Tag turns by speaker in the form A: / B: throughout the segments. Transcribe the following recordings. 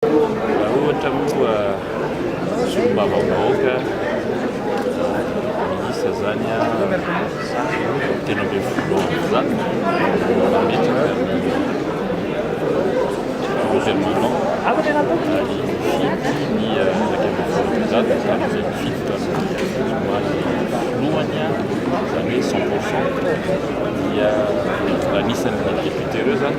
A: Raha ohatra moa solombavambahoaka miisa zany a telo ambin'ny folo amby zato mametraka gouvernement ary mifidy ny iraika ambin'ny folo amby zato zany zay mifidy tany somary filohany a zany hoe cent pour cent dia anisan'ny député ireo zany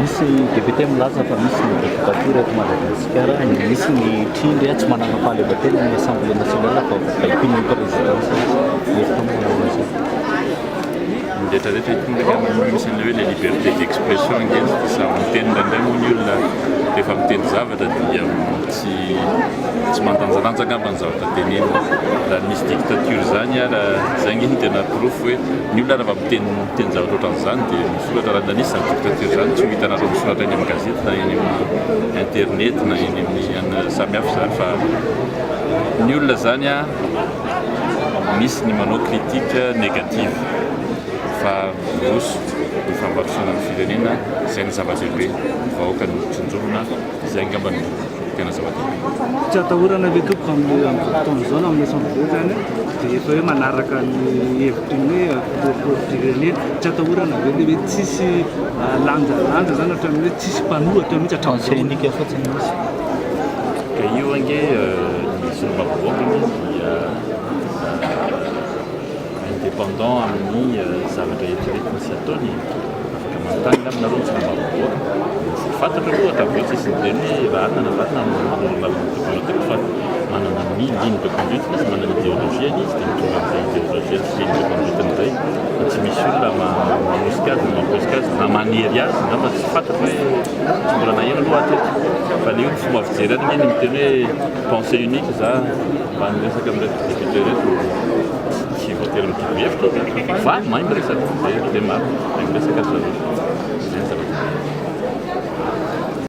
B: Misy député milaza fa misy ny dictature eto Madagasikara, misy ny trindry tsy manana fahaleovantena ny assemblée nationale fa baikoin'ny présidence mihitsy. Hevitra moa va ianao amin'izay?
A: Ny rehetra rehetra eto ndray angamba no misy an'ilay hoe le liberté d'expression ange, samy miteny indraindray moa ny olona rehefa miteny zavatra dia tsy Tsy mandanjalanja angamba ny zavatra tenenina. Raha nisy dictature izany ary izay ange no tena porofo hoe ny olona raha vao miteny miteny zavatra ohatran'izany dia misoratra. Raha nisy izany dictature izany tsy ho hitanareo misoratra eny amin'ny gazety na eny amin'ny internet na eny amin'ny samy hafa izany fa ny olona izany misy ny manao critique négative fa miroso ny fampandrosoana ny firenena izay ny zava-dehibe. Ny vahoaka no tsinjovina. Izay angamba no tena zava-dehibe. Tsy atahorana
C: ve tompoko amin'ny amin'izao fotoana izao na amin'ny assemblée izany dia efa hoe manaraka ny hevitry ny hoe filoham-pirenena. Tsy atahorana ve ilay hoe tsisy lanjalanja izany hatramin'ny hoe tsisy mpanohatra mihitsy hatramin'izao? Tsindrika fotsiny
B: misy.
A: Ka io ange ny solombavambahoaka aloha dia indépendant amin'ny zavatra eritreretiny sy ataony e, afaka manontany angamba nareo ny solombavambahoaka, tsy fantatra aloha hatao ve tsy izy niteny hoe marina na marina ny olombavambahoaka tokony hatao fa manana ny ligne de conduite-ny izy, manana ny idéologie-ny izy dia mitondra an'izay idéologie-ny sy ligne de conduite-ny indray fa tsy misy olona manosika azy na mampiosika azy na manery azy, angamba tsy fantatra hoe tsy mbola naheno aloha aho hatreto fa le hoe ny fomba fijereny anie ny miteny hoe Pensée unique za mba miresaka amin'ireto députés ireto tsy voatery mitovy hevitra zany fa mahay miresaka dia dia maro mahay miresaka ry zareo.